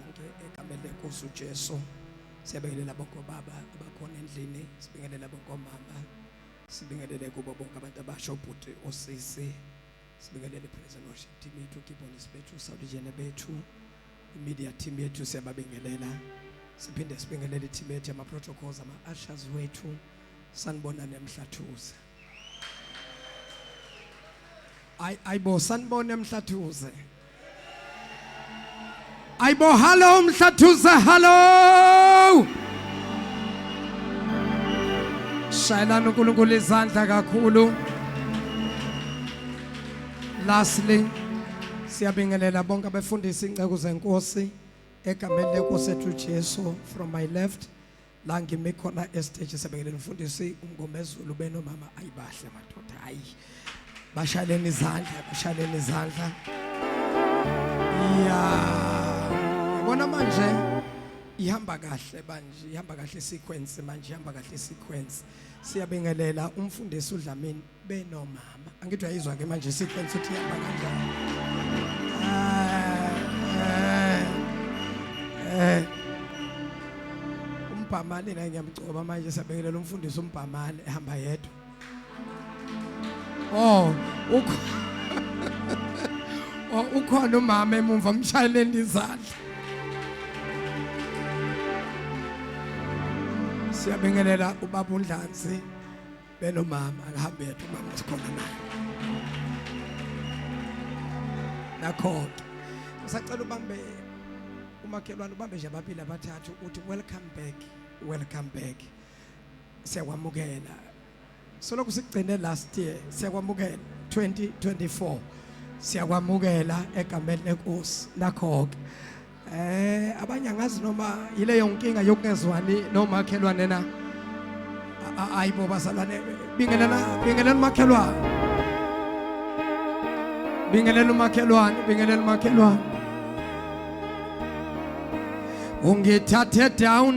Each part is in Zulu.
Bonke egameni lenkosi uJesu siyabingelela bonke obaba abakhona endlini sibingelela bonke omama sibingelele kubo bonke abantu abasho ubhuti osisi sibingelele ipresent worship team yethu keyboardist bethu sawulijene bethu imedia team yethu siyababingelela siphinde sibingelele i-team yethu yama-protocols ama-ushers wethu sanibona nemhlathuza ay aybo sanibona emhlathuze aybo hello mhlathuze hello shayelana uNkulunkulu izandla kakhulu lastly siyabingelela bonke abefundisi inceku zenkosi egameni lenkosi ethu Jesu from my left la ngime khona estage sebekele mfundisi umngomezulu benomama ayibahle madoda hayi bashaleni izandla bashaleni izandla ya yabona manje ihamba kahle manje ihamba kahle sequence manje ihamba kahle sequence siyabingelela umfundisi uDlamini benomama angithi uyayizwa ke manje sequence ukuthi ihamba kanjani eh umbhamane naye ngiyamgcoba manje sabekelela umfundisi umbhamane ehamba yedwa oh ukho oh ukhona umama emumva umshayeleni izandla siyabingelela ubaba uNdlanzi benomama akahambe yedwa umama sikhona naye nakho-ke ngisacela ubambe umakhelwane ubambe nje ababili abathathu uthi welcome back welcome back siyakwamukela solokhu sigcine last year siyakwamukela 2024 siyakwamukela egameni lenkosi nakho-ke Eh abanye angazi noma yileyo nkinga yokungezwani nomakhelwane na. Ayibo bazalwane bingelana bingelana umakhelwane. Bingelana umakhelwane bingelana umakhelwane. Ungithathe down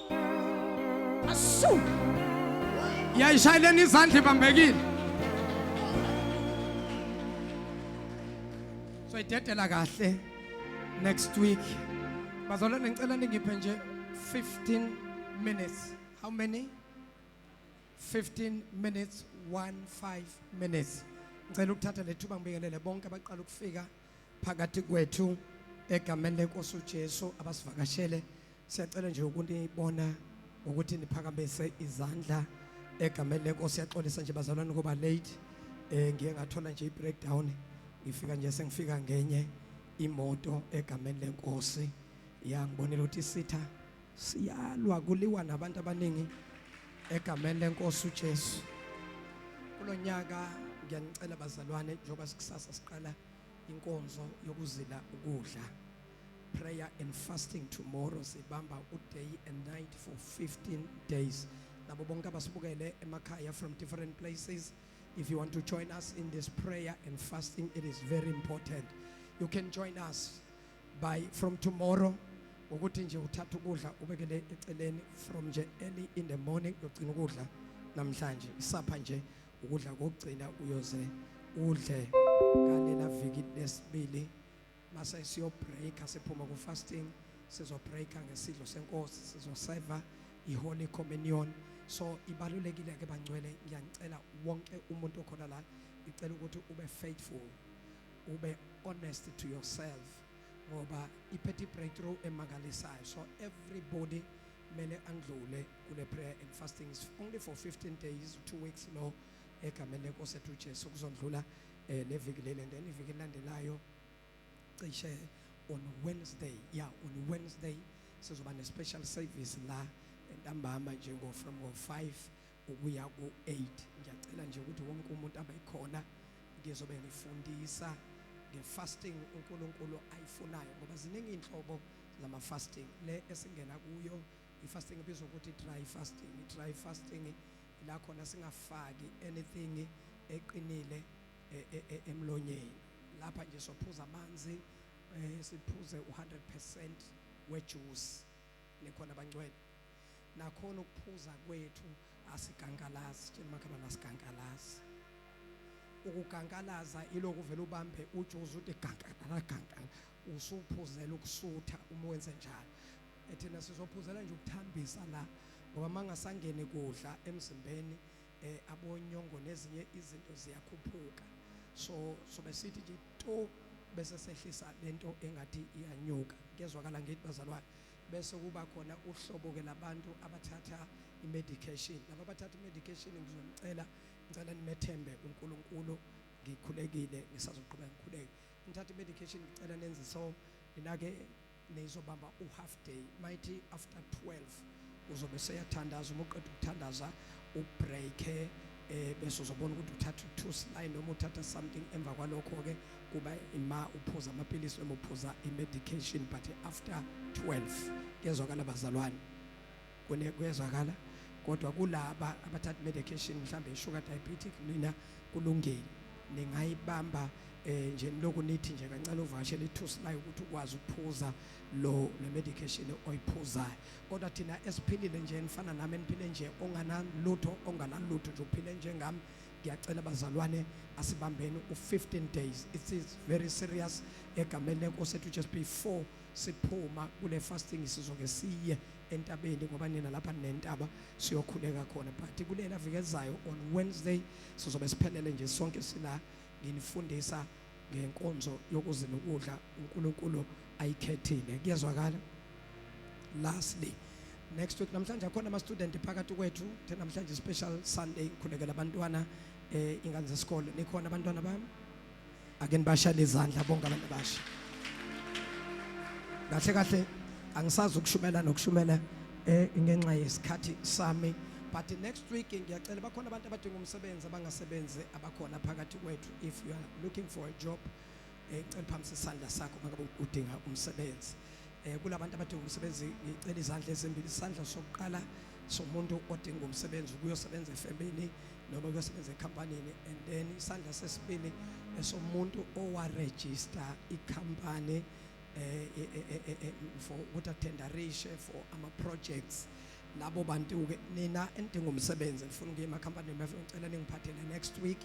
Asu. Yayishayeleni izandla ibambekile. So idedela kahle next week. Bazalwane ngicela ningiphe nje 15 minutes. How many? 15 minutes, 1 5 minutes. Ngicela ukuthatha lethuba ngibingelele bonke abaqala ukufika. phakathi kwethu egameni lenkosi uJesu abasivakashele siyacela nje ukunibona ukuthi niphakamise izandla egameni lenkosi yaxolisa nje bazalwane kuba late eh ngiye ngathola nje i-breakdown ngifika nje sengifika ngenye imoto egameni lenkosi yangibonela ukuthi isitha Siyalwa kuliwa nabantu abaningi egameni lenkosi uJesu. Kulonyaka ngiyanicela bazalwane njengoba sikusasa siqala inkonzo yokuzila ukudla. Prayer and fasting tomorrow sibamba uday and night for 15 days. Labo bonke abasibukele emakhaya from different places if you want to join us in this prayer and fasting it is very important. You can join us by from tomorrow ukuthi nje uthatha ukudla ubekele eceleni from nje early in the morning yogcina ukudla namhlanje isapha nje ukudla kokugcina uyoze udle kalela viki lesibili mase siyo break siphuma ku fasting sizo break ngesidlo senkosi sizo serve iholy communion so ibalulekile ke bangcwele ngiyacela wonke umuntu okhona la ngicela ukuthi ube faithful ube honest to yourself ngoba iphethe i-breakthrough emangalisayo so everybody mele andlule kule prayer and fasting is only for 15 days two weeks lo egameni lenkosi ethu uJesu kuzondlula eh leviki leli and then iviki elandelayo cishe on Wednesday yeah on Wednesday sizoba ne special service la entambama njengo from 5 ukuya ku-8 ngiyacela nje ukuthi wonke umuntu abe khona ngizobe ngifundisa nge-fasting uNkulunkulu ayifunayo ngoba ziningi inhlobo lama fasting le esingena kuyo i-fasting ibizwa ukuthi dry fasting i-dry fasting la khona singafaki anything eqinile e, e, e, emlonyeni lapha nje sophuza amanzi eh, siphuze u100% wejuice nekhona bangcwele nakhona ukuphuza kwethu asigangalazi tshela makhelwane asigangalazi ukugangalaza ilokhu vele ubambe ujuzu uthi gangala gangala usuphuzela ukusutha uma wenze njalo ethina sizophuzela nje ukuthambisa la ngoba mangasangene kudla emzimbeni eh abonyongo nezinye izinto ziyakhuphuka so sobe sithi nje to bese sehlisa lento engathi iyanyuka kezwakala ngithi bazalwane Bese kuba khona uhlobo ke labantu abathatha imedication. Laba abathatha imedication ngizonicela ngicela nimethembe uNkulunkulu ngikhulekile ngisazoqhubeka ngikhuleke. Nithatha imedication ngicela nenze so ninake nizobamba u half day. Mighty after 12 uzobe seyathandaza uma uqeda ukuthandaza ubreake eh bese uzobona ukuthi uthatha two sly noma uthatha something emva kwalokho ke kuba ima uphuza amaphilisi noma uphuza imedication but after 12 kezwakala bazalwane kune kwezwakala kodwa kulaba abathatha medication mhlambe sugar diabetic mina kulungile ningayibamba eh nje lokhu nithi nje kancane uvashe lithu sly ukuthi ukwazi ukuphuza lo le medication oyiphuzayo kodwa thina esiphilile nje enifana nami eniphile nje onganalutho onganalutho nje uphile njengami ngiyacela bazalwane asibambeni u15 days it is very serious egameni lenkosi ethu just before siphuma kule fasting sizoke siye entabeni ngoba nina lapha nentaba siyokhuleka khona but kulela vikezayo on Wednesday sizobe siphelele nje sonke sila nginifundisa ngenkonzo yokuzila ukudla uNkulunkulu ayikhethile kuyezwakala lastly next week namhlanje akhona ama student phakathi kwethu the namhlanje special sunday ngikhulekela abantwana eh ingane zesikole nikhona abantwana bami ake nibashale izandla bonke abantu abasha kahle kahle angisazi ukushumela nokushumela eh ngenxa yesikhathi sami but next week ngiyacela bakhona abantu abadinga umsebenzi abangasebenzi abakhona phakathi kwethu if you are looking for a job eh, ngicela uphamise isandla sakho mangabe udinga umsebenzi eh kulabantu abadinga umsebenzi ngicela izandla ezimbili isandla sokuqala somuntu odinga umsebenzi ukuyosebenza efemini noma ukuyosebenza ekampanini and then isandla sesibili esomuntu owaregister ikampani eh, eh, eh, eh, eh for ukuthi attenderishe for ama projects labo bantu ke nina enidinga umsebenzi ngifuna ukuye emakhampanini ngicela ningiphathele next week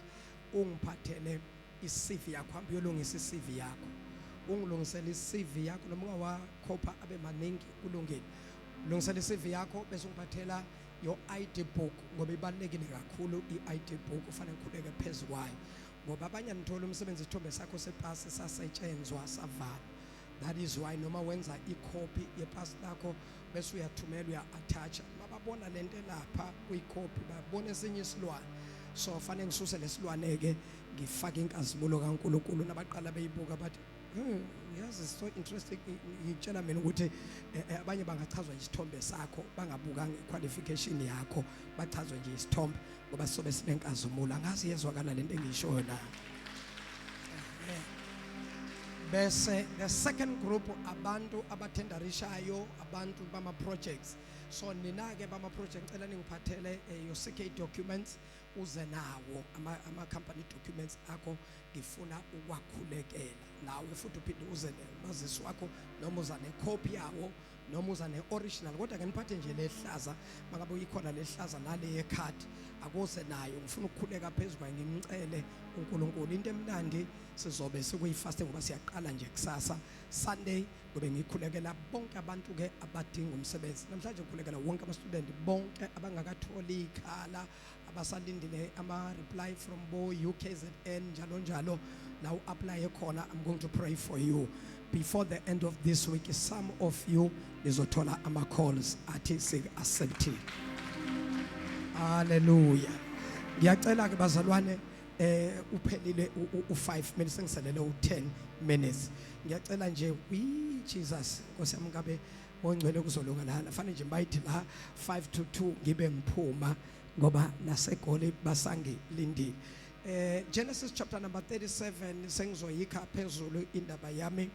ungiphathele i-CV yakho hamba uyolungisa i-CV yakho ungilungisele i-CV yakho noma ungawakhopha abe maningi kulungile lungisela i-CV yakho bese ungiphathela your ID book ngoba ibalekile kakhulu i-ID book ufanele ngikhuleke phezulu kwayo ngoba abanye anithola umsebenzi isithombe sakho sepasi sasetshenzwa savala that is why noma wenza ikhophi yepasi lakho bese uyathumela uya-attacha bababona le nto elapha kuyikhophi babona esinye isilwane so fanele ngisuse lesilwane-ke ngifake inkazimulo kankulunkulu nabaqala beyibuka bathi hmm, yazi so interesting ngitshela mina ukuthi eh, eh, abanye bangachazwa isithombe sakho bangabuka ngequalification yakho bachazwe nje isithombe ngoba sobe sinenkazimulo angazi yezwakala lento engishoyo na bese the second group abantu abathendarishayo abantu bama projects so nina ke bama project ngicela ningiphathele eh, your CK documents uze nawo ama, ama company documents akho ngifuna ukwakhulekela nawe futhi uphinde uze nomazisi wakho noma uza necopy yawo noma uza ne original kodwa ke niphathe nje lehlaza makabe uyikhona lehlaza nale ye card akuze nayo ngifuna ukukhuleka phezulu kwaye ngimcele uNkulunkulu into emnandi sizobe sikuyifaste ngoba siyaqala nje kusasa Sunday ngobe ngikhulekela bonke abantu ke abadinga umsebenzi namhlanje ngikhulekela wonke ama student bonke abangakatholi ikhala abasalindile ama reply from bo UKZN njalo njalo la u apply khona i'm going to pray for you before the end of this week some of you nizothola ama calls athi sik accepted haleluya ngiyacela ke bazalwane eh uphelile u5 minutes sengiselele u10 minutes ngiyacela nje we Jesus nkosi yami kabe ongcwele kuzolunga lana fanele nje bayithi la 5 to 2 ngibe ngiphuma ngoba nasegoli basangilindile eh Genesis chapter number 37 sengizoyikha phezulu indaba yami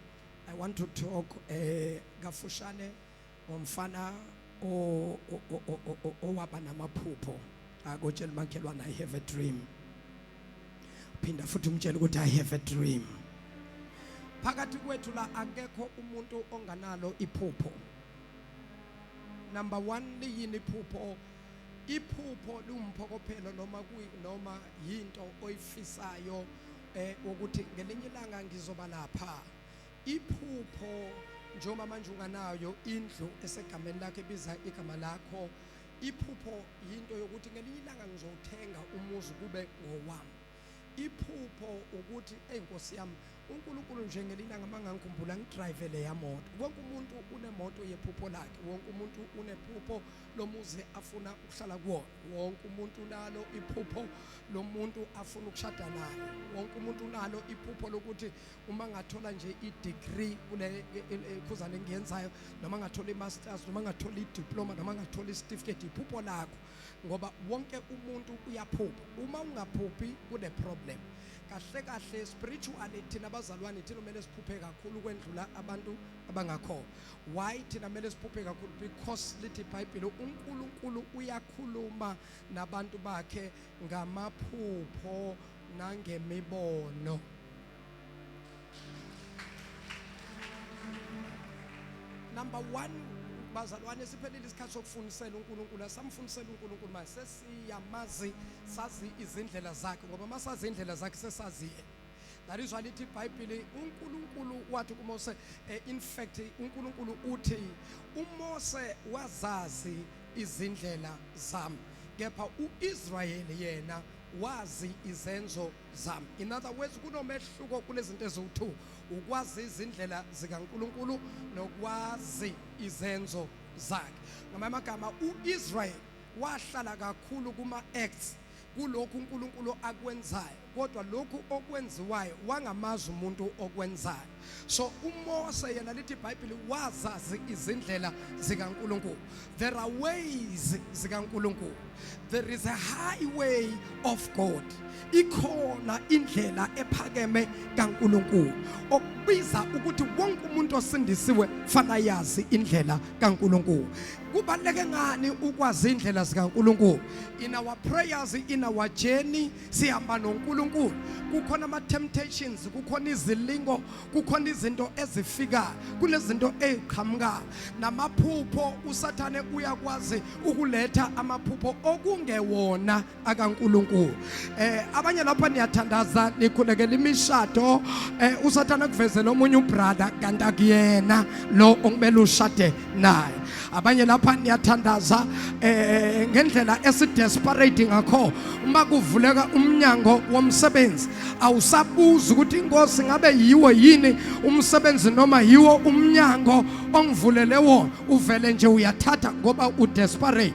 i want to talk eh kafushane ngomfana owaba namaphupho akotshela makhelwana i have a dream phinda futhi umtshele ukuthi i have a dream phakathi kwethu la akekho umuntu onganalo iphupho number 1 liyini iphupho iphupho liwumphokophelo noma noma yinto oyifisayo eh ukuthi ngelinye ilanga ngizoba lapha iphupho njengoba manje unganayo indlu esegameni lakhe biza igama lakho Iphupho yinto yokuthi ngelinye ilanga ngizowuthenga umuzi kube ngowami. Iphupho ukuthi enkosi yami uNkulunkulu nje ngelinye ilanga mangangikhumbula ngidrive le yamoto. Wonke umuntu unemoto yephupho lakhe, wonke umuntu unephupho lomuzi afuna ukuhlala kuwona. Wonke umuntu unalo iphupho lomuntu afuna ukushada naye. Wonke umuntu unalo iphupho lokuthi uma ngathola nje i-degree kule khuzane engiyenzayo noma ngathola i-masters noma ngathola i-diploma noma ngathola i-certificate iphupho lakho ngoba wonke umuntu uyaphupha uma ungaphuphi kune-problem kahle kahle spiritually thina abazalwane thina kumele siphuphe kakhulu kwendlula abantu abangakhona why thina kumele siphuphe kakhulu because lithi ibhayibhile unkulunkulu uyakhuluma nabantu bakhe ngamaphupho nangemibono. number 1 bazalwane siphelile isikhathi sokufundisela uNkulunkulu asamfundisela uNkulunkulu manje sesiyamazi sazi izindlela zakhe ngoba masazi indlela zakhe sesazi ngalizwa lithi ibhayibhili unkulunkulu wathi kumose eh, in fact unkulunkulu uthi umose wazazi izindlela zami kepha uIsrayeli yena wazi izenzo zami in other words kunomehluko kulezinto eziwu2 ukwazi izindlela zikaNkuluNkulu nokwazi izenzo zakhe ngamanye amagama uIsrael wahlala kakhulu kuma acts kulokhu uNkulunkulu akwenzayo kodwa lokhu okwenziwayo wangamazi umuntu okwenzayo so uMose yena lithi iBhayibheli wazazi izindlela zikaNkulunkulu there are ways zikaNkulunkulu there is a highway of God ikhona indlela ephakeme kaNkulunkulu okubiza ukuthi wonke umuntu osindisiwe fana yazi indlela kaNkulunkulu Kubaluleke ngani ukwazi indlela zikaNkuluNkulu? In our prayers, in our journey sihamba noNkuluNkulu. Kukhona ama temptations, kukhona izilingo, kukhona izinto ezifikayo, kunezinto eziqhamukayo. Namaphupho uSathane uyakwazi ukuletha amaphupho okungewona akaNkuluNkulu eh abanye lapha niyathandaza nikhulekela imishado eh usathana kuvezela omunye ubrother kanti akuyena lo okumele ushade naye abanye lapha niyathandaza eh ngendlela esidesperate ngakho uma kuvuleka umnyango womsebenzi awusabuza ukuthi inkosi ngabe yiwo yini umsebenzi noma yiwo umnyango ongivulele wona uvele nje uyathatha ngoba udesperate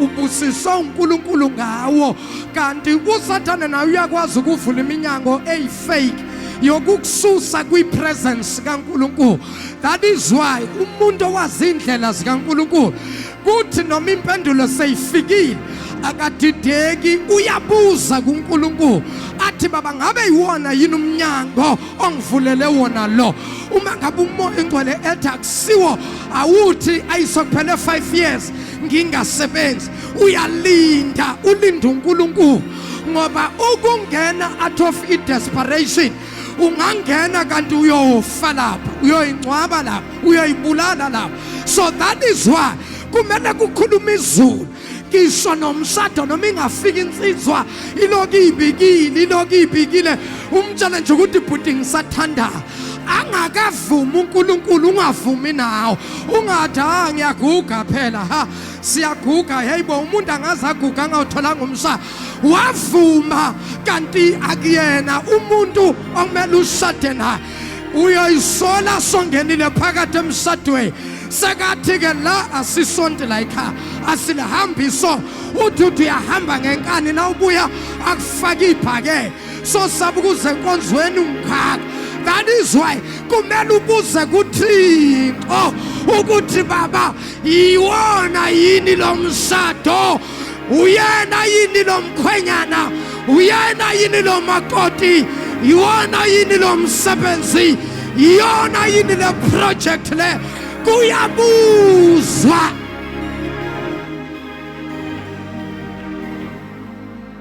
ubusiswe uNkulunkulu ngawo kanti uSathane naye uyakwazi ukuvula iminyango eyifake yokukususa kwipresence kaNkulunkulu that is why umuntu owazi indlela zikaNkulunkulu kuthi noma impendulo seyifikile akadideki uyabuza kuNkulunkulu athi baba ngabe yiwona yini umnyango ongivulele wona lo uma ngabe umoya ingcwele ethi akusiwo awuthi ayisokuphele 5 years ngingasebenzi uyalinda ulinda uNkulunkulu ngoba ukungena out of i desperation ungangena kanti uyofa lapha uyoyingcwaba lapha uyoyibulala lapha so that is why kumele kukhuluma izulu ngisho nomshado noma ingafika insizwa iloku ibikile iloku ibikile umtshela nje ukuthi bhuti ngisathandayo angakavumi uNkulunkulu ungavumi nawo ungathi ha ngiyaguga phela ha siyaguga heyibo umuntu angaze aguga angawutholanga umsa wavuma kanti akuyena umuntu okumele ushade naye uyoyisola songenile phakathi emshadweni sekathi-ke la asisonti layikha asilihambi so uthi uthi uyahamba ngenkani na ubuya akufake ibhakele sosaba ukuze enkonzweni ungaka that is why kumele ubuze kuthixo ukuthi baba yiwona yini lo mshado uyena yini lo mkhwenyana uyena yini lo makoti yiwona yini lo msebenzi yiyona yini le project le kuyabuzwa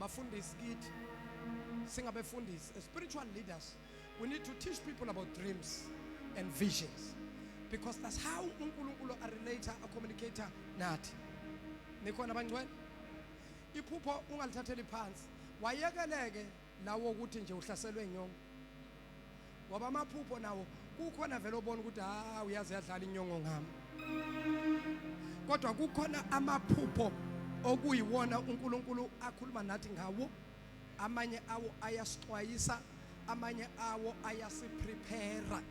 bafundisi kithi singabefundisi as spiritual leaders we need to teach people about dreams and visions because that's how uNkulunkulu a relator a communicator nathi nikhona abangcwele iphupho ungalithatheli phansi wayekeleke lawo ukuthi nje uhlaselwe inyongo ngoba amaphupho nawo kukhona vele obona ukuthi ha uyaze yadlala inyongo ngami kodwa kukhona amaphupho okuyiwona uNkulunkulu akhuluma nathi ngawo amanye awo ayasixwayisa amanye awo ayasiprepare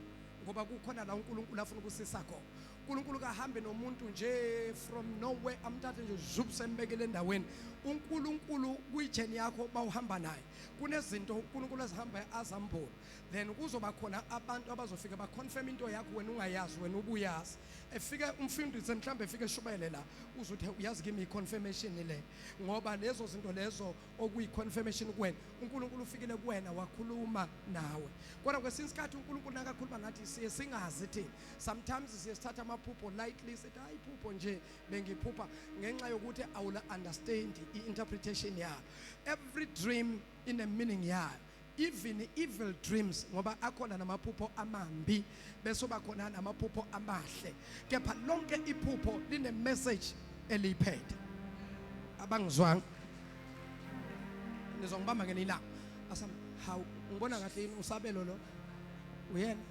ngoba kukhona la uNkulunkulu afuna ukusisa khona uNkulunkulu kahambe nomuntu nje from nowhere amthathe nje zup sembekele endaweni uNkulunkulu kuyijeni yakho bawuhamba naye kunezinto uNkulunkulu azihamba azambona then kuzoba khona abantu abazofika ba confirm into yakho wena ungayazi wena ubuyazi efike umfundisi mhlambe efike eshubele la uzothe uyazi kimi confirmation le ngoba lezo zinto lezo okuyi confirmation kuwena uNkulunkulu ufikile kuwena wakhuluma nawe kodwa kwesinye isikhathi uNkulunkulu nakakhuluma nathi siye singazi thina sometimes siye sithatha amaphupho lightly sithi hayi iphupho nje bengiphupha ngenxa yokuthi awula understand i-interpretation yayo every dream ine meaning yayo even evil dreams ngoba akhona namaphupho amambi bese uba khona namaphupho amahle kepha lonke iphupho line message eliyiphethe abangizwanga nizongibamba ngenilanga asam hawu ngibona kahle yini usabelo lo uyena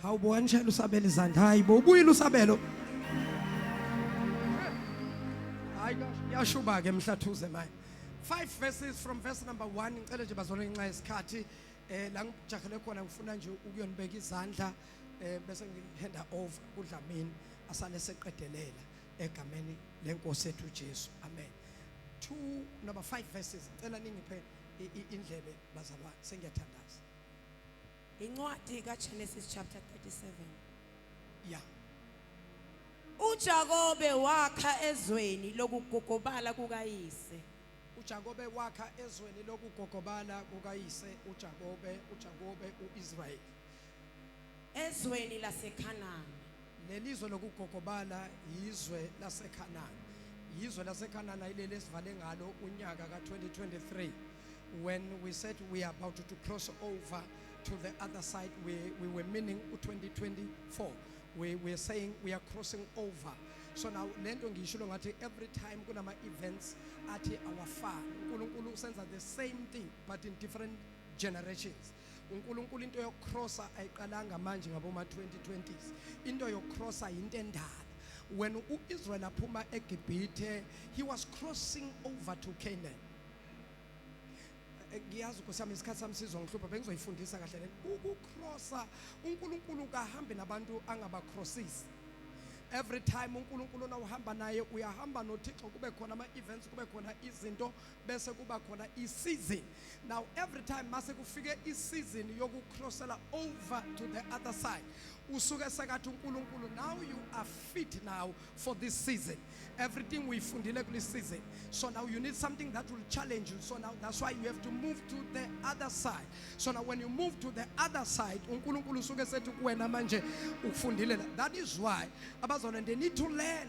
Hawu bo wanishela usabela izandla. Hayi bo ubuyile usabelo. Hayi yashuba ke mhlathuze manje. Five verses from verse number 1 ngicela nje bazole ngenxa yesikhathi eh la ngijahele khona ngifuna nje ukuyonibeka izandla eh bese ngihanda over kudlamini asale seqedelela egameni lenkosi ethu Jesu. Amen. 2 number 5 verses ngicela ningiphe indlebe bazalwane sengiyathandaza. Incwadi kaGenesis chapter 37. Yeah. UJakobe wakha ezweni lokugogobala kukayise. uJakobe wakha ezweni lokugogobala kukayise uJakobe uJakobe uIsrayeli Ezweni laseKhanani. Lelizwe lokugogobala yizwe laseKhanani. Yizwe laseKhanani ayileli esivale ngalo unyaka ka-2023 when we said we are about to cross over to the other side we, we were meaning u-2024 we were saying we are crossing over so now le nto ngiyishilo ngathi every time kunama-events athi awafani unkulunkulu usenza the same thing but in different generations uNkulunkulu into yokucrossa ayiqalanga manje ngaboma 2020s into yokucrossa into endala when uIsrael aphuma eGibhithe he was crossing over to Canaan eh, ngiyazi ukosami isikhathi sami sizongihlupha bengizoyifundisa kahle le ukucrossa uNkulunkulu kahambe nabantu angabacrossisi every time uNkulunkulu nawuhamba naye uyahamba noThixo kube khona ama events kube khona izinto bese kuba khona i-season now every time mase kufike i-season yokucrossela over to the other side usuke sekathi uNkulunkulu now you are fit now for this season everything uyifundile kule season so now you need something that will challenge you so now that's why you have to move to the other side so now when you move to the other side uNkulunkulu usuke sethi kuwena manje ukufundile that is why abazona they need to learn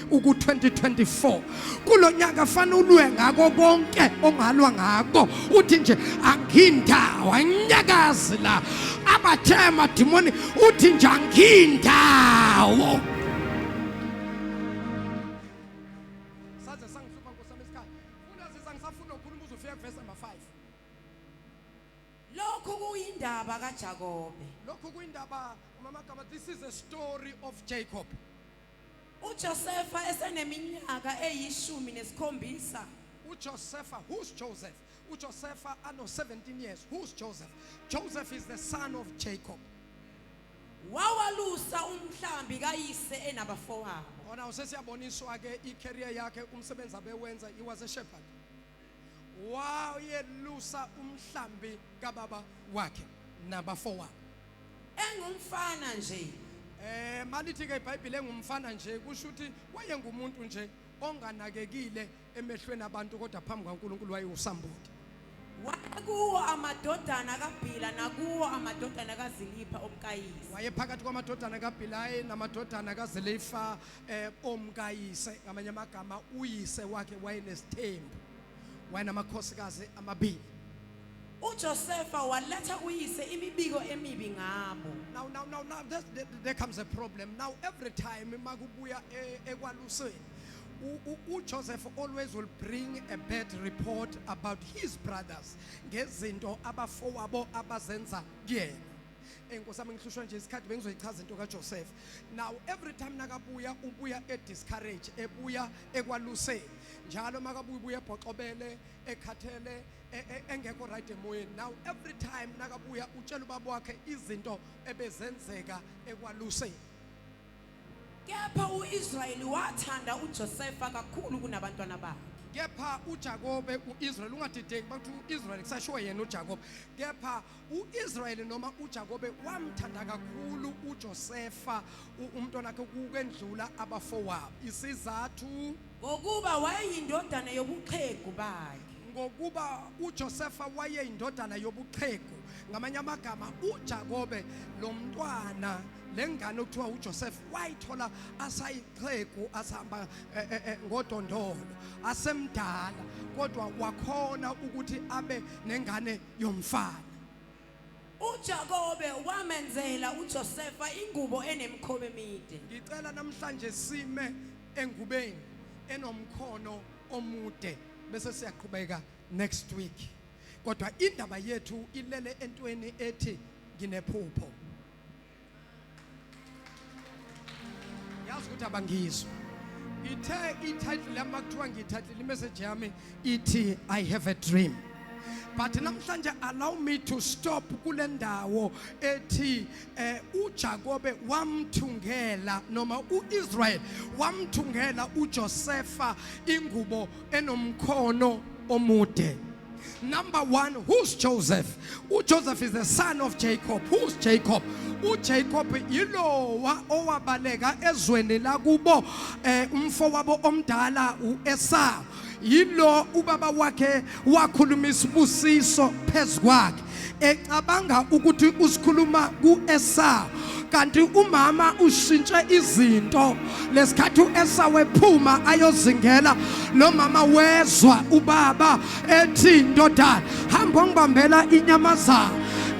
uku-2024 kulo nyaka fana ulwe ngako konke ongalwa ngako uthi nje angindawo anyakazi la abathe amadimoni uthi nje angindawo saze sangihlupha nkosami isikhathi unazisa ngisafuna ukukhuluma uze ufike kuvesi number 5 lokhu kuyindaba kaJakobe lokhu kuyindaba umama gama this is a story of Jacob UJosefa eseneminyaka eyishumi nesikhombisa. UJosefa, who's Joseph? UJosefa ano 17 years. Who's Joseph? Joseph is the son of Jacob. Wawalusa umhlambi kayise enabafowabo. Ona usesiyaboniswa ke i-career yakhe umsebenzi abewenza he was a shepherd. wayelusa umhlambi kababa wakhe nabafowabo engumfana nje eh malithi ke iBhayibheli engumfana nje kusho ukuthi wayengumuntu nje onganakekile emehlweni abantu kodwa phambi kwaNkulunkulu wayewusamboti wakuwo amadodana kaBhila nakuwo amadodana kaZilipha omkayise wayephakathi kwamadodana kaBhilayi namadodana kaZilifa eh omkayise ngamanye amagama uyise wakhe wayenesithembu wayenamakhosikazi amabili uJosefa waletha uyise imibiko emibi ngabo now now now now there, there, there comes a problem now every time makubuya eh, ekwaluseni uJoseph always will bring a bad report about his brothers ngezinto abafowabo abazenza kuyena Hey Nkosi yami ngihlushwa nje isikhathi bengizoyichaza into kaJoseph. Now every time nakabuya ubuya e discourage ebuya ekwaluseni. Njalo makabuya ubuya ebhoxobele ekhathele e- e- engekho right emoyeni. Now every time nakabuya utshela ubaba wakhe izinto ebezenzeka ekwaluseni. Kepha uIsrayeli wathanda uJosefa kakhulu kunabantwana bakhe. Kepha uJakobe uIsrael ungadideki bathi uIsrael kusashiwo yena uJakobe. Kepha U-Israyeli noma uJakobe wamthanda kakhulu uJosefa umntwana wakhe ukwendlula abafowabo. Isizathu ngokuba wayeyindodana yobuxhegu bakhe. Ngokuba uJosefa wayeyindodana yobuxhegu. Ngamanye amagama uJakobe lo mntwana le ngane okuthiwa uJoseph wayithola asayixhegu asihamba eh, eh, eh, ngodondolo asemdala kodwa wakhona ukuthi abe nengane yomfana. UJakobe wamenzela uJosefa ingubo enemikhoba emide. Ngicela namhlanje sime engubeni enomkhono omude bese siyaqhubeka next week. Kodwa indaba yethu ilele entweni ethi nginephupho. yazi ukuthi abangizwa ithe ititle yami kuthiwa ngiyithathile imessage yami ithi i have a dream but namhlanje allow me to stop kule ndawo ethi eh uJakobe wamthungela noma uIsrael wamthungela uJosefa ingubo enomkhono omude number 1 who's Joseph uJoseph is the son of Jacob who's Jacob uJacob yilowa owabaleka ezweni lakubo eh, umfo wabo omdala uEsau yilo ubaba wakhe wakhuluma isibusiso phezukwakhe ecabanga ukuthi usikhuluma kuEsau kanti umama ushintshe izinto lesikhathi uEsau wephuma ayozingela lo mama wezwa ubaba ethi ndodana hamba ongibambela inyamazana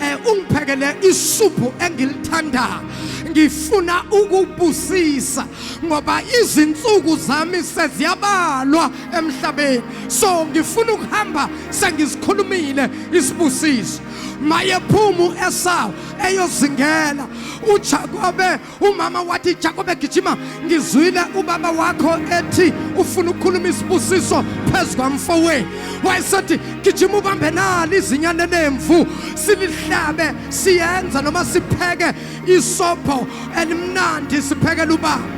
eh ungiphekele isuphu engilithandayo ngifuna ukubusisa ngoba izinsuku zami seziyabalwa emhlabeni so ngifuna ukuhamba sengizikhulumile isibusiso mayephuma u-esawu eyozingela ujakobe umama wathi jakobe gijima ngizwile ubaba wakho ethi ufuna ukukhuluma isibusiso phezu kwamfowenu wayesethi gijima ubambe nalo izinyane lemvu silihlabe siyenza noma sipheke isopho elimnandi siphekela ubaba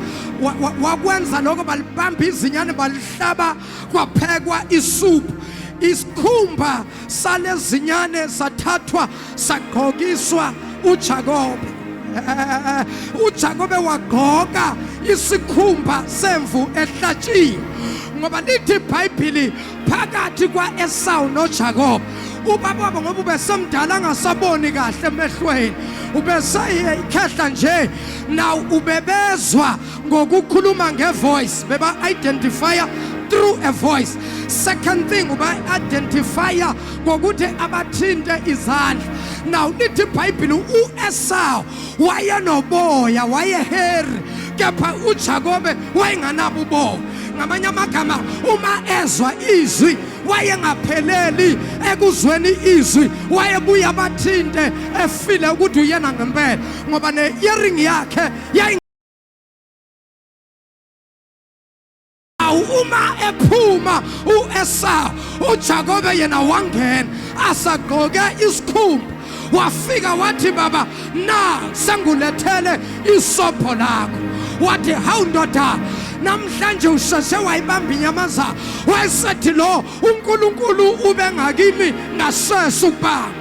wakwenza lokho balibamba izinyane balihlaba kwaphekwa isuphu isikhumba salezinyane sathathwa sagqokiswa uJakobe uJakobe wagqoka isikhumba semvu ehlatshiwe ngoba lithi iBhayibhili phakathi kwa-esawu nojakoba ubaba wabo ngoba ubesemdala angasaboni kahle emehlweni ubeseye ikhehla nje naw ubebezwa ngokukhuluma ngevoice beba-identifya through a voice second thing uba-identifya ngokuthi abathinte izandla naw lithi ibhayibhile u-esawu wayenoboya wayeheri kepha uJakobe wayenganabo uboya ngamanye amagama uma ezwa izwi wayengapheleli ekuzweni izwi wayebuya bathinte efile ukuthi uyena ngempela ngoba ne-earing yakhe awu uma ephuma uEsau uJakobe yena wangena asagqoke isikhumba wafika wathi baba na sengulethele isobho lakho wathi hawu ndoda namhlanje usheshe wayibamba inyamazana wayesethi lo uNkulunkulu ube ngakimi ngasese ukubanga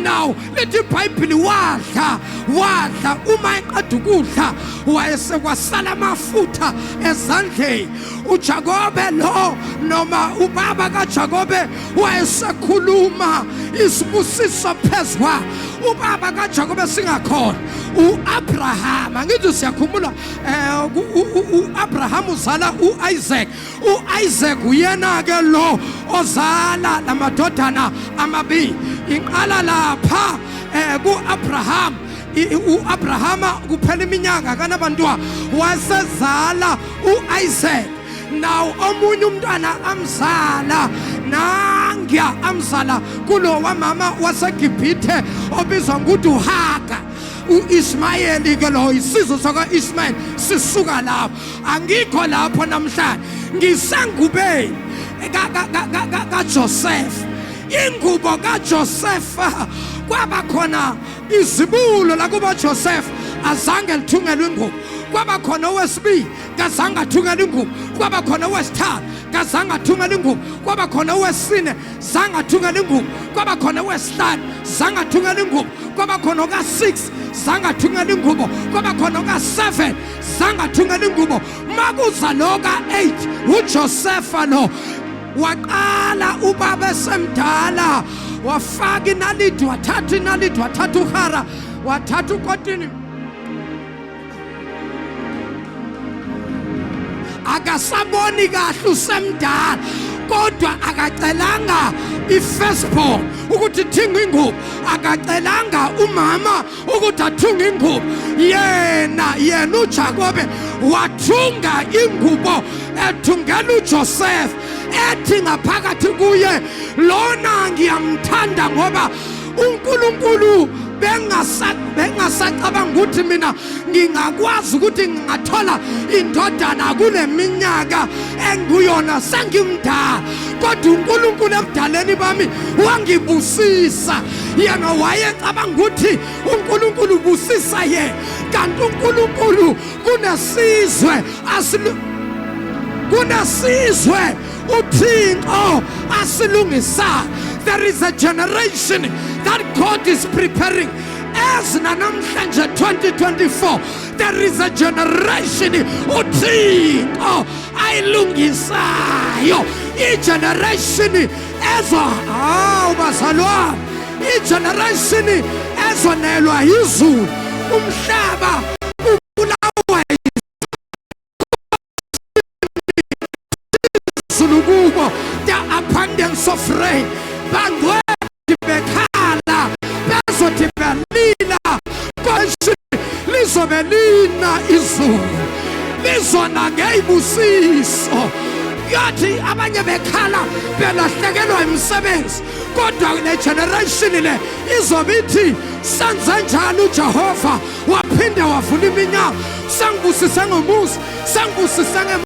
now lithi ibhayibhili wadla wadla uma eqeda ukudla wayesekwasala amafutha ezandleni ujakobe lo noma ubaba kajakobe wayesekhuluma isibusiso phezwa ubaba kajakobe singakhona u-abrahama ngithi siyakhumbula um eh, u-abrahama uzala u-isaac U-Isaac uyena-ke lo ozala la madodana amabili inqala lapha um ku-abraham u-abrahama kuphela iminyaka kanabantwa wasezala u-isaac nawo omunye umntwana amzala nangiya amzala kulo wamama wasegibhithe obizwa ngokuthi uhaga u-ismayeli ke loyo isizwe sakwa-ismayeli sisuka lapho angikho lapho namhlanje ngisengubeni kaJoseph ingubo kaJoseph kwaba khona izibulo lakuba Joseph azange lithungelwe ingubo kwaba khona owesibili kazange athungele ingubo kwaba khona owesithathu kazange athungele ingubo kwaba khona owesine zange athungele ingubo kwaba khona owesihlanu zange athungele ingubo kwaba khona oka-6 zange athungele ingubo kwaba khona oka-7 zangathungela ingubo makuza loka 8 uJosefa no waqala ubaba esemdala wafaka inalidi wathatha inalidi wathatha uhara wathatha ukotini akasaboni kahle usemdala kodwa akacelanga i-firstborn ukuthi thinga ingubo akacelanga umama ukuthi athunga ingubo yena yena uJakobe wathunga ingubo ethungela uJoseph ethi ngaphakathi kuye lona ngiyamthanda ngoba uNkulunkulu bengasacabanga ukuthi mina ngingakwazi ukuthi ngingathola indodana kule minyaka engiyona sengimdala kodwa uNkulunkulu ebudaleni bami wangibusisa yena wayecabanga ukuthi uNkulunkulu ubusisa yena kanti uNkulunkulu kunesizwe asilu kunesizwe uThixo asilungisayo there is a generation that God is preparing as nanamhlanje 2024 there is a generation uThixo ayilungisayo igeneration ezwa hawu bazalwane igeneration ezonelwa yizulu umhlaba ubulawa izulu kubo the abundance of rain bangcweti bekhala bezothi belila konje lizobe lina izulu lizona ngeyibusiso yathi abanye bekhala belahlekelwa imisebenzi kodwa le generation le izobe ithi senze njani uJehova waphinde wavula iminyango sangibusise ngomuzi sangibusise nge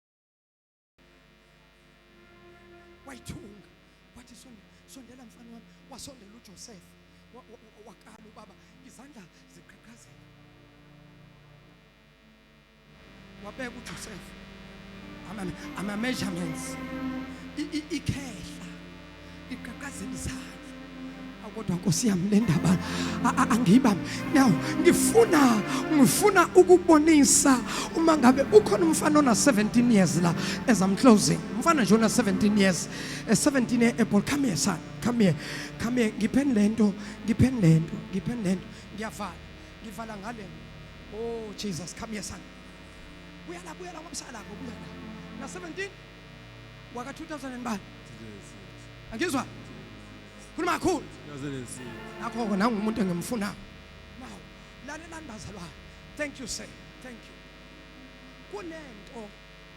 wayithunga wathi sondela mfana wami wasondela uJoseph wakala ubaba izandla ziqhaqhazela wabeka uJoseph ama measurements ikhehla iqhaqhazini zami kodwa nkosi yami le ndaba angiba now ngifuna ngifuna ukubonisa uma ngabe ukhona umfana ona 17 years la as I'm closing umfana nje ona 17 years 17 year apple come here son come here come here ngipheni lento ngipheni lento ngipheni lento ngiyavala ngivala ngale oh Jesus come here son buyala buyala ngomsala buya na 17 waka 2000 bani angizwa khuluma kakhulu nakho-ke nangumuntu engimfunayo now lalelani bazalwane thank you sir thank you kunento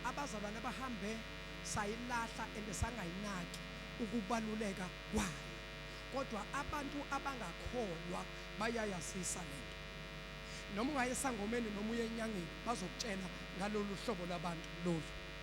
abazalwane abahambe sayilahla and sangayinaki ukubaluleka kwayo kodwa abantu abangakholwa bayayazisa lento noma ungayesangomeni noma uyenyangeni bazokutshela ngalolu hlobo labantu lolu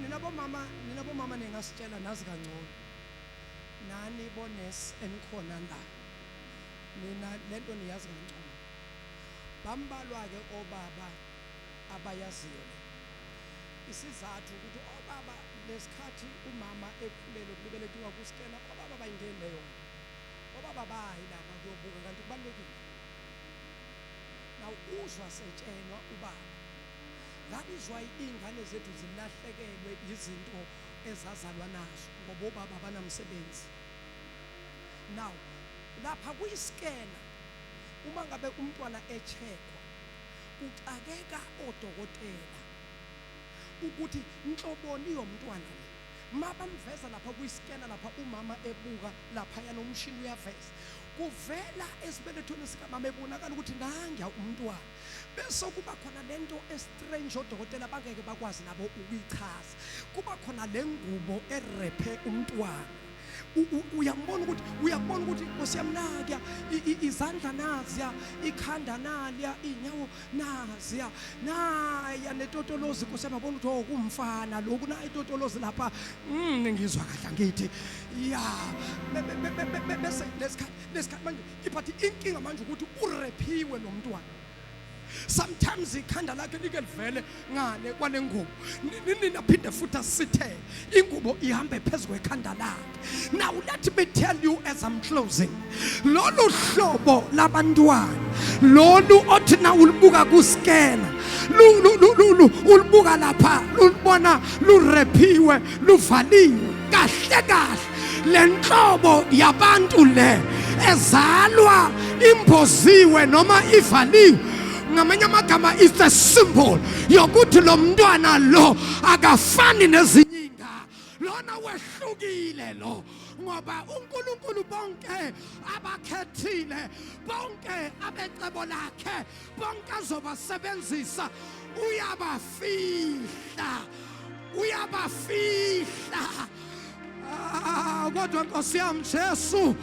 nina bomama nina bomama ningasitshela nazi kangcono nani bones enikhona la nina lento niyazi kangcono bambalwa ke obaba abayaziyo isizathu ukuthi obaba lesikhathi umama ekhulele kubeletiwa kuStella obaba bayingeni leyo obaba bayi lapha kuyobuka kanti kubalekile now uzwa setshenwa ubaba Ngabizwa iy'ngane zethu zilahlekelwe yizinto ezazalwa nazo ngoba obaba abanamsebenzi. Now lapha kuyisikena uma ngabe umntwana echekwa kuxakeka odokotela ukuthi nhloboni yomntwana le mabamveza lapha kuyisikena lapha umama ebuka lapha yana umshini uyaveza kuvela esibelethweni sikamama ebonakala ukuthi nangiya umntwana bese kuba khona lento estrange odokotela bangeke bakwazi nabo ukuyichaza kuba khona le ngubo erephe umntwana uyambona ukuthi uyabona ukuthi Nkosi yami nakuya izandla naziya ikhanda naliya inyawo naziya naya netotolozi Nkosi yami yabona ukuthi oh kumfana lokhu na itotolozi lapha mm, ngizwa kahle ngithi ya bese lesikhathi lesikhathi manje but inkinga manje ukuthi urephiwe lo mntwana sometimes ikhanda lakhe like livele ngale kwale ngubo nina phinde futhi asithe ingubo ihambe phezu kwekhanda lakhe now let me tell you as i'm closing lolu hlobo labantwana lolu othi na ulibuka kuskena ulibuka lapha lulibona lurephiwe luvaliwe kahle kahle le nhlobo yabantu le ezalwa imboziwe noma ivaliwe ngamanye amagama is a symbol yokuthi lo mntwana lo akafani nezinye inga lona wehlukile lo ngoba uNkulunkulu bonke abakhethile bonke abecebo lakhe bonke azobasebenzisa uyabafihla uyabafihla ah, kodwa nkosi yami jesu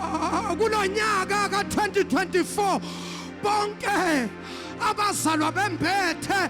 ah, kulo nyaka ka-2024 bonke abazalwa bembethe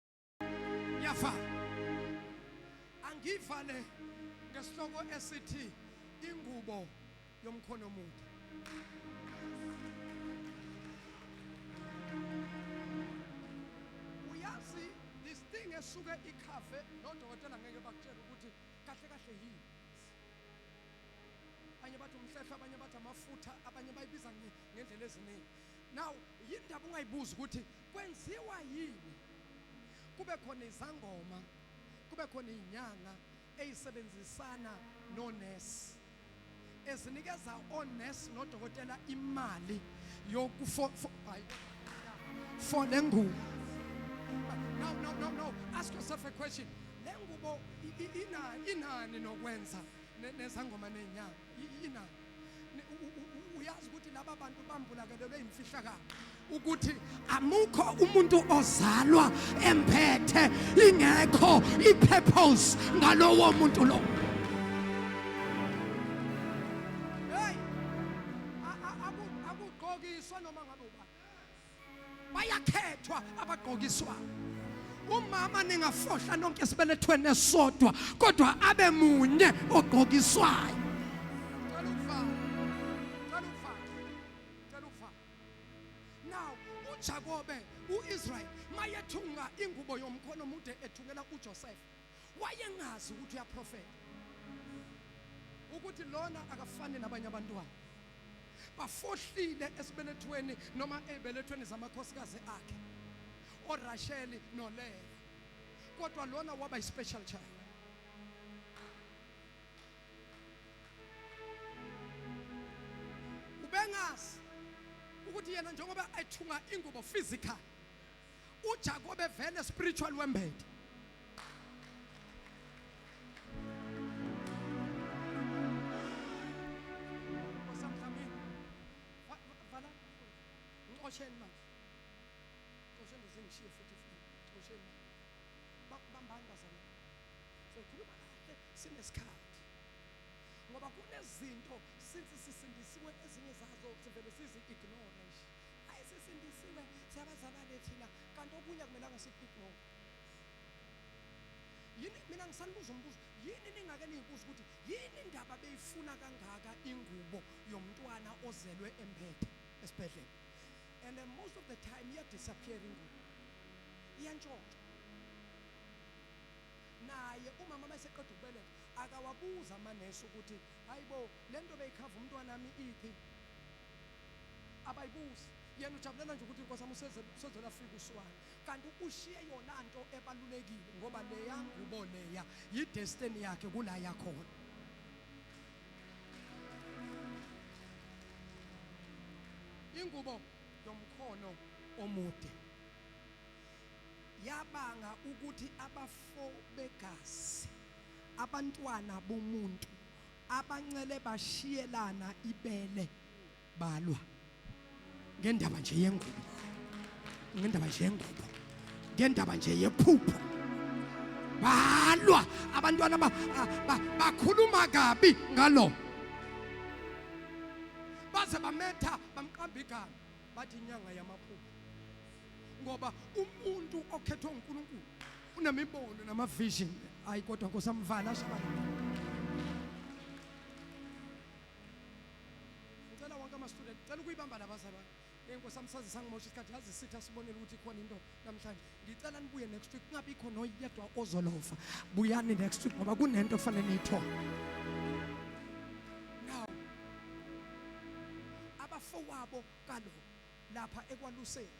Yafa. Angivale ngesihloko esithi ingubo yomkhono omude. Uyazi this thing esuke ikhave nodokotela ngeke bakutshela ukuthi kahle kahle yini. Abanye bathi umhlehlo, abanye bathi amafutha, abanye bayibiza ngendlela eziningi. Now yindaba ungayibuzi ukuthi Kwenziwa yini? Kube khona izangoma, kube khona izinyanga ezisebenzisana nonesi, ezinikeza onesi nodokotela imali yokufo for le ngubo. No, no, no, no. Ask yourself a question. Le ngubo inani nokwenza nezangoma nezinyanga. yina uyazi ukuthi laba bantu bambulakelelwe imfihlakalo ukuthi amukho umuntu ozalwa emphethe ingekho ipurpose ngalowo muntu lo hey akugqokiswa noma ngabe ubani bayakhethwa abagqokiswa umama ningafohla nonke esibelethweni esodwa kodwa abe munye ogqokiswayo Jakobe uIsrael mayethunga ingubo yomkhono mude ethungela uJoseph wayengazi ukuthi uyaprofeta ukuthi lona akafani nabanye abantwana bafohlile esibelethweni noma ezibelethweni zamakhosikazi akhe oRasheli noLeya kodwa lona waba ispecial child ubengazi ukuthi yena njengoba ethunga ingubo physical uJakobe vele spiritual wembethe Xosheni manje. Xosheni zingishiye futhi futhi. Xosheni. Bakubambani bazana. Sokhuluma kahle sinesikhathi. Ngoba kunezinto since sisindisiwe ezinye zazo sivele sizi ignore nje. hayi sisindisiwe siyabazalwane thina kanti okunye akumelanga sikuphi no yini mina ngisanibuza umbuzo yini ningake niyibuza ukuthi yini indaba beyifuna kangaka ingubo yomntwana ozelwe emphethe esibhedlela and then most of the time iya disappear ingubo iyantshontsha naye umama mayeseqeda ukubeletha akawabuza amanesi ukuthi hayibo lento beyikhava umntwana wami iphi abayibuzi yena ujabulela nje ukuthi inkosi amusezela fika uswana kanti ushiye yona nto ebalulekile ngoba leya ngubo leya yidestiny yakhe kula yakhona ingubo yomkhono omude yabanga ukuthi abafo begazi abantwana bomuntu abancele bashiyelana ibele balwa ngendaba nje yengubo ngendaba nje yengubo ngendaba nje yephupho balwa abantwana bakhuluma kabi ngalo baze bametha bamqamba igama bathi inyanga yamaphupho ngoba umuntu okhethwa uNkulunkulu unemibono nama vision hayi kodwa nkosamvala ashabalala ngicela wonke ama student ngicela ukuyibamba labazalwane enkosi amsazi sangimosha isikhathi yazi sitha sibonele ukuthi khona into namhlanje ngicela nibuye next week kungabikho noyedwa ozolova buyani next week ngoba kunento fanele niyithole now abafowabo kaloku Lapha ekwaluseni,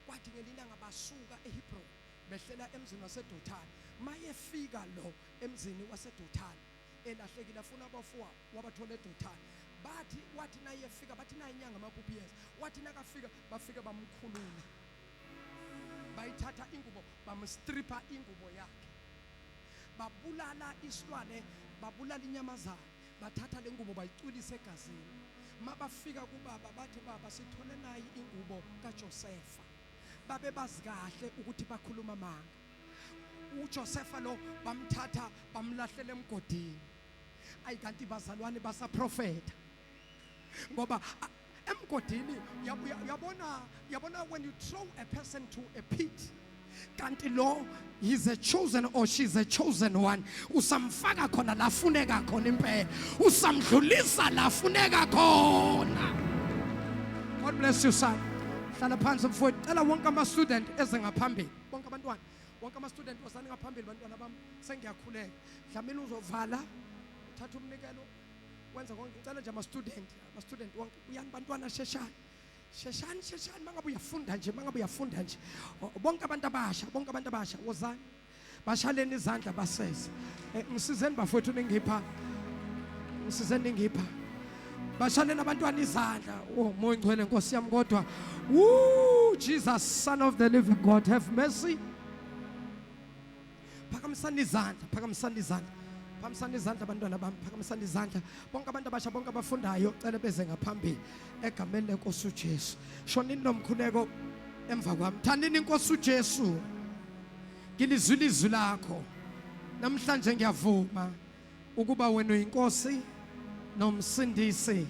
kwathi ngelinanga basuka eHebroni behlela emzini waseDothani. Mayefika lo emzini waseDothani elahlekile afuna abafowabo, wabathola eDothani. Bathi wathi nayefika bathi nayi inyanga amaphupho iyeza. Wathi nakafika bafike bamkhulula. Bayithatha ingubo bamstripha ingubo yakhe. Babulala isilwane, babulala inyamazana. bathatha le ngubo bayicwilisa egazini mabafika kubaba bathi baba sithole nayi ingubo kaJosefa babe bazi kahle ukuthi bakhuluma amanga uJosefa lo bamthatha bamlahlela emgodini ayi kanti bazalwane basaprofeta ngoba emgodini uyabona uyabona when you throw a person to a pit kanti lo he's a chosen or she's a chosen one usamfaka khona la funeka khona impela usamdlulisa la funeka khona god bless you son hlala phansi mfowethu cela wonke ama student eze ngaphambili bonke abantwana wonke ama student osani ngaphambili bantwana bami sengiyakhuleka dlamini uzovala uthatha umnikelo wenza konke ngicela nje ama student ama student wonke uyani bantwana sheshani sheshani sheshani mangabe uyafunda nje mangabe uyafunda nje bonke abantu abasha bonke abantu abasha wozani bashaleni izandla baseze eh, ngisizeni bafowethu ningipha ngisizeni ningipha bashaleni abantwana izandla oh moya ngcwele nkosi yami kodwa woo jesus son of the living god have mercy Phakamisani izandla, phakamisani izandla. Phakamisani izandla abantwana bami, phakamisani izandla. Bonke abantu abasha, bonke abafundayo, cela beze ngaphambili egameni lenkosi uJesu. Shonini nomkhuleko emva kwami. Thandini inkosi uJesu. Ngilizwile izwi lakho. Namhlanje ngiyavuma. ukuba wena uyinkosi nomsindisi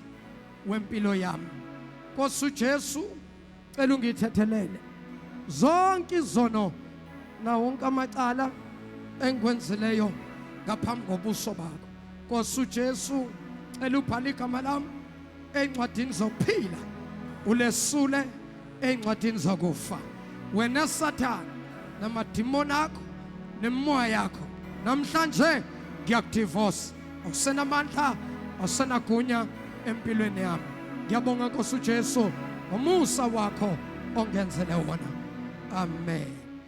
wempilo yami Nkosi uJesu cela ungithethelele zonke izono na wonke amacala engikwenzileyo ngaphambi kobuso bakho Nkosi uJesu cela ubhale igama lami encwadini zokuphila ulesule ey'ncwadini zakufa wena sathane namadimoni akho nemimoya yakho namhlanje ngiyakudivosa awusenamandla awusenagunya empilweni yami ngiyabonga nkosi ujesu ngomusa wakho ongenzele wona amen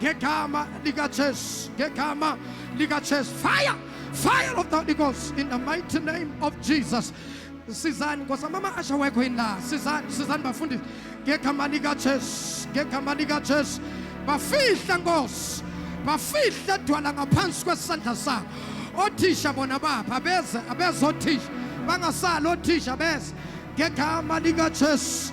Ngegama likaJesu, ngegama likaJesu. Fire! Fire of the Holy Ghost in the mighty name of Jesus. Sizani Nkosi mama asha wekho yini la? Sizani, sizani bafundisi. Ngegama likaJesu, ngegama likaJesu. Bafihla Nkosi. Bafihla dwala ngaphansi kwesandla sakho. Othisha bona bapha beze abezothisha. Bangasali othisha beze. Ngegama likaJesu.